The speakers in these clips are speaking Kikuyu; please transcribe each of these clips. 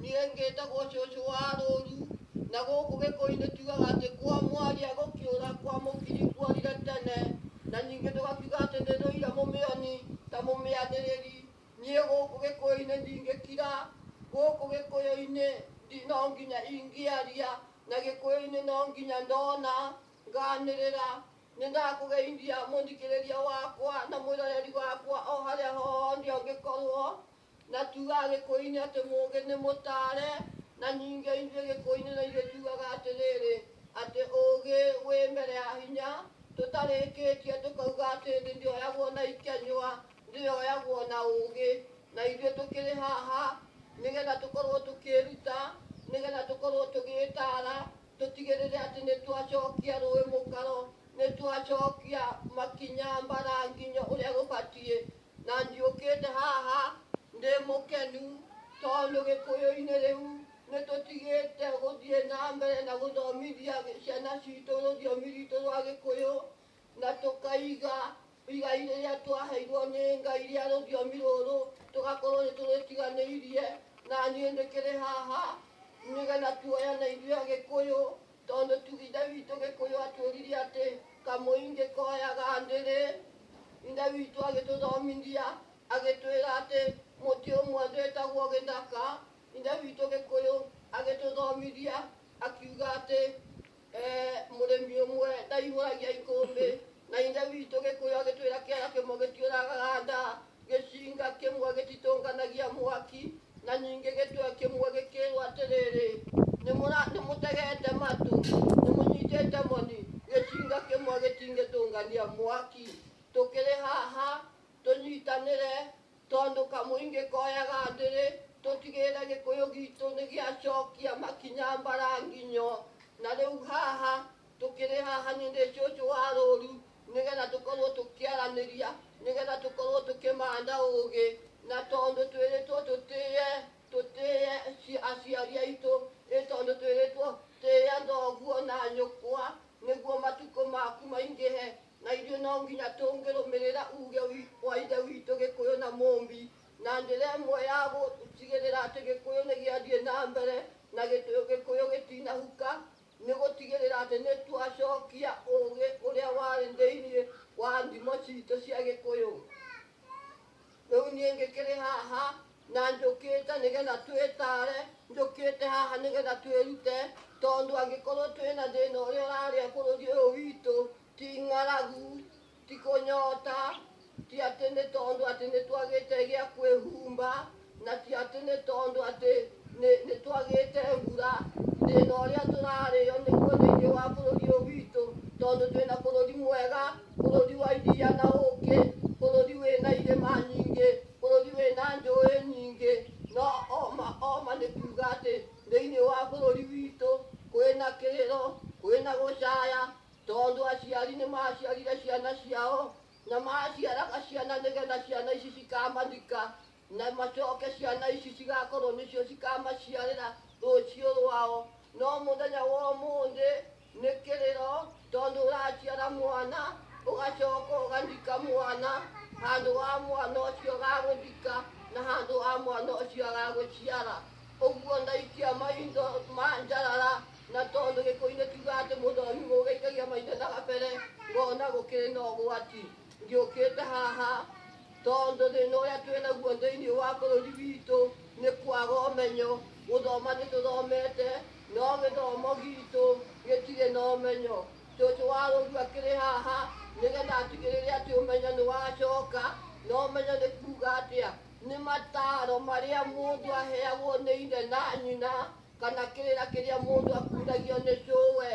Niĩ ngĩtagwo cũcũ wa rũũru, na gũkũ Gĩkũyũ-inĩ tuugaga atĩ kwa mwaria gũkĩũra, kwa mũkiri kuorire tene, na ningĩ tũgakiuga atĩ nĩ ndũire mũmĩoni ta mũmĩanĩrĩri. Niĩ gũkũ Gĩkũyũ-inĩ ndingĩkira, gũkũ Gĩkũyũ-inĩ no nginya ingĩaria, na Gĩkũyũ-inĩ no nginya ndona, nganĩrĩra. Nĩ ndakũgeithia mũthikĩrĩria wakwa na mwĩroreri wakwa o harĩa hothe ũngĩkorwo. Na tuugaga gĩkũyũ-inĩ atĩ mũũgĩ nĩ mũtaare, na ningĩ ithuĩ gĩkũyũ-inĩ na ithuĩ tuugaga atĩrĩrĩ, atĩ ũũgĩ wĩ mbere ya hinya, tũtarĩkĩtie tũkauga atĩ thĩ ndĩoyagwo na ikenywa, thĩ yoyagwo na ũũgĩ. Na ithuĩ tũkĩrĩ haha nĩgetha tũkorwo tũkĩĩruta, nĩgetha tũkorwo tũgĩĩtaara, tũtigĩrĩre atĩ nĩ twacokia rũĩ mũkaro, nĩ twacokia makinya mbaranginyo ũrĩa gũbatiĩ, Na ndiũkĩte haha ndĩ mũkenu tondũ Gĩkũyũ-inĩ rĩu nĩ tũtigĩte gũthiĩ na mbere na gũthomithia ciana citũ rũthiomi rwitũ rwa Gĩkũyũ na tũkaiga igai rĩrĩa twaheirwo nĩ Ngai rĩa rũthiomi rũrũ tũgakorwo nĩ tũrĩtiganĩirie. Na niĩ ndĩkĩrĩ haha nĩgetha tuoyane ithuĩ Agĩkũyũ Tondũ tu Ithe witũ Gĩkũyũ atwĩrire atĩ kamũi ngĩkoyaga ndĩrĩ, Ithe witũ agĩtũthomithia agĩtwĩra atĩ mũtĩ ũmwe wĩtagwo gĩthaka. Ithe witũ Gĩkũyũ agĩtũthomithia akiuga atĩ eh, mũrĩmi ũmwe ndaihũragia ikũmbĩ, na Ithe witũ Gĩkũyũ agĩtwĩra kĩara kĩmwe gĩtiũragaga nda, Gĩcinga kĩmwe gĩtitũnganagia mwaki, na ningĩ gĩtwe kĩmwe gĩkĩĩrwo atĩrĩrĩ, "Nĩmũra- nĩmũtegete matũ, nĩmũnyitĩte moni, gĩcinga kĩmwe gĩtingĩtũngania mwaki. Tũkĩrĩ haha tũnyitanĩre, tondũ kamũingĩ koyaga ndĩrĩ, tũtigĩrĩre gĩkũyũ gitũ nĩgĩacokia makinya mbaranginyo. Na rĩu haha tũkĩrĩ haha nĩ ũndũ cũcũ wa rũũru nĩgetha tũkorwo tũkĩaranĩria nĩgetha tũkorwo tũkĩmanda ũũgĩ na tondũ twĩrĩtwo tũtĩye tũtĩye ci- aciari aitũ ĩ tondũ twĩrĩtwo tĩya thoguo na nyũkwa nĩguo matukũ maku maingĩhe na ithuĩ no nginya tũngĩrũmĩrĩra uge wi- wa ithe witũ gĩkũyũ na mũmbi na njĩra ĩmwe ya gũtigĩrĩra atĩ gĩkũyũ nĩ gĩathiĩ na mbere na gĩtũ- gĩkũyũ gĩtinahuka Nĩ gũtigĩrĩra atĩ nĩ twacokia ũũgĩ ũrĩa warĩ thĩinĩ wa thimo citũ cia Gĩkũyũ. Rĩu niĩ ngĩkĩrĩ haha na njũkĩte nĩgetha twĩtare, njũkĩte haha nĩgetha twĩrute, tondũ angĩkorwo twĩna thĩna ũrĩa ũrarĩa bũrũri ũyũ witũ ti ng'aragu, Ti kũnyota, ti atĩ nĩ tondũ atĩ nĩ twagĩte gĩa kwĩhumba, na ti atĩ nĩ tondũ atĩ nĩ nĩ twagĩte mbura. Thĩna ũrĩa tũrarĩo nĩguo thĩinĩ wa bũrũri ũyũ witũ, tondũ twĩna bũrũri mwega, bũrũri wa iria na ũkĩ, bũrũri wĩna irĩma nyingĩ, bũrũri wĩna njũĩ nyingĩ, no oma oma nĩ kuuga atĩ thĩinĩ wa bũrũri witũ kwĩna kĩrĩro, kwĩna gũcaya, Tondũ aciari nĩ maaciarire ciana ciao na maaciaraga ciana nĩgetha ciana ici cikaamathika na macoke ciana ici cigakorwo nĩcio cikamaciarĩra rũciũ rwao no mũthenya wa ũmũthĩ nĩ kĩrĩro tondũ ũraciara mwana ũgacoka ũgathika mwana handũ wa mwana ũcio gagũthika na handũ wa mwana ũcio agagũciara ũguo ndaikia maitho ma njarara Na tondũ gĩkũinĩ kiuga atĩ mũndũ ũyũ mũgĩikagia maitho na gabere ngona gũkĩrĩ na ũgwati ngĩũkĩte haha tondũ thĩna ũrĩa twĩ naguo thĩinĩ wa bũrũri witũ nĩ kwaga ũmenyo gũthoma nĩ tũthomete no gĩthomo gitũ gĩtirĩ na ũmenyo cũcũ wa rũgio akĩrĩ haha nĩgetha atigĩrĩre atĩ ũmenyo nĩ wacoka na ũmenyo nĩ kuga atĩa nĩ mataro marĩa mũndũ aheagwo nĩ ithe na nyina kana kĩrĩra kĩrĩa mũndũ akuthagio nĩ cũwe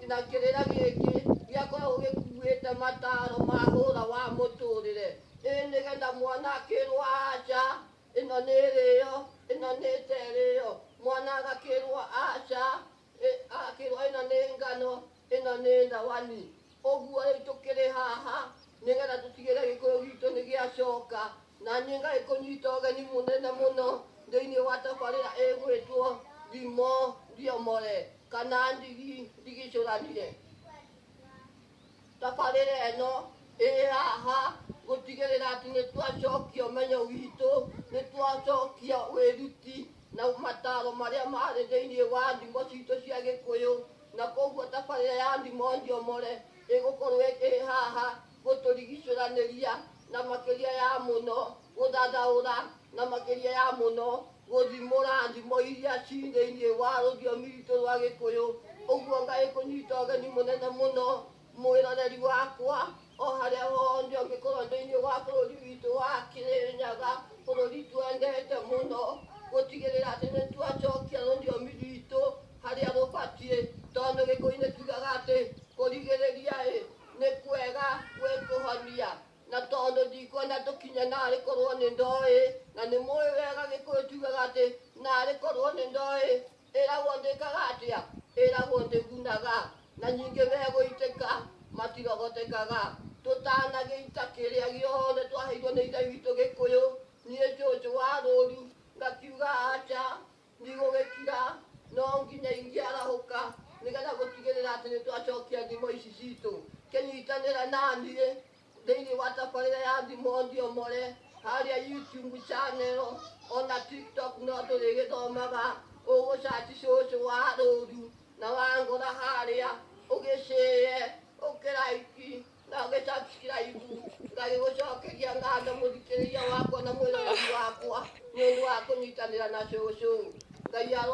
na kĩrĩra gĩkĩ gĩakoragwo gĩkuĩte mataro ma hũra wa mũtũrĩre ĩ nĩgetha mwana akĩrwo aca ĩno nĩ ĩrĩyo ĩno nĩ ĩterĩyo mwana agakĩrwo aca ĩ- akĩrwo ĩno nĩ ngano Ĩno nĩ thawani, ũguo rĩu tũkĩrĩ haha nĩgetha tũtigĩrĩre gĩkũyũ gitũ nĩ gĩacoka, na niĩ ngagĩkũnyita ũgeni mũnene mũno thĩinĩ wa tabarĩra ĩgwĩtwo Ndimũ Ndiomore kana Ndigi Ndigicũranire. Tabarĩra ĩno ĩrĩ haha gũtigĩrĩra atĩ nĩ twacokia ũmenyo witũ, nĩ twacokia wĩruti na mataro marĩa marĩ thĩinĩ wa ndimũ citũ cia gĩkũyũ. na koguo tabarĩra ya Ndimo Njomore ĩgũkorwo ĩrĩ haha gũtũrigicũranĩria na makĩria ya mũno gũthathaũra na makĩria ya mũno gũthimũra ndimo iria ci thĩinĩ wa rũthiomi rwitũ rwa gĩkũyũ ũguo ngai kũnyita ũgeni mũnene mũno Mwĩroreri wakwa, o harĩa hothe ũngĩkorwo thĩinĩ wa bũrũri witũ wa Kĩrĩnyaga, bũrũri twendete mũno, gũtigĩrĩra atĩ nĩ twacokia rũthiomi rwitũ harĩa rũbatiĩ, tondũ Gĩkũyũ-inĩ tugaga atĩ kũrigĩrĩria ĩ nĩ kwega gwĩ kũhonia, na tondũ ndikwenda tũkinye narĩ korwo nĩ ndoĩ, na nĩ mũĩ wega Gĩkũyũ tugaga atĩ narĩ korwo nĩ ndoĩ, Ĩragwo ndĩkaga atĩa? Ĩragwo ndĩgunaga, na nyingĩ megũitĩka, matirogotekaga. Tũtanagĩita kĩrĩa gĩothe twaheirwo nĩ Ithe witũ Gĩkũyũ, niĩ Njũnjũ wa rũũru ngakiuga aca, ndigũgĩkira, no nginya ingĩarahũka, nĩgetha gũtigĩrĩra atĩ nĩtwacokia thimo ici citũ. Kĩnyitanĩra naniĩ, thĩinĩ wa tabarĩra ya thimũ thiomore harĩa youtube channel ona tiktok no tũrĩgĩthomaga ũgũcaci cũcũ wa rũru na wangora harĩa ũgĩcĩe ũkĩraiki na ũgĩsubscribe ngagĩgũcokeria ngatho mũthikĩrĩria wakwa na mwĩroreri wakwa nĩ ũndũ wa kũnyitanĩra na cũcũ ngai aro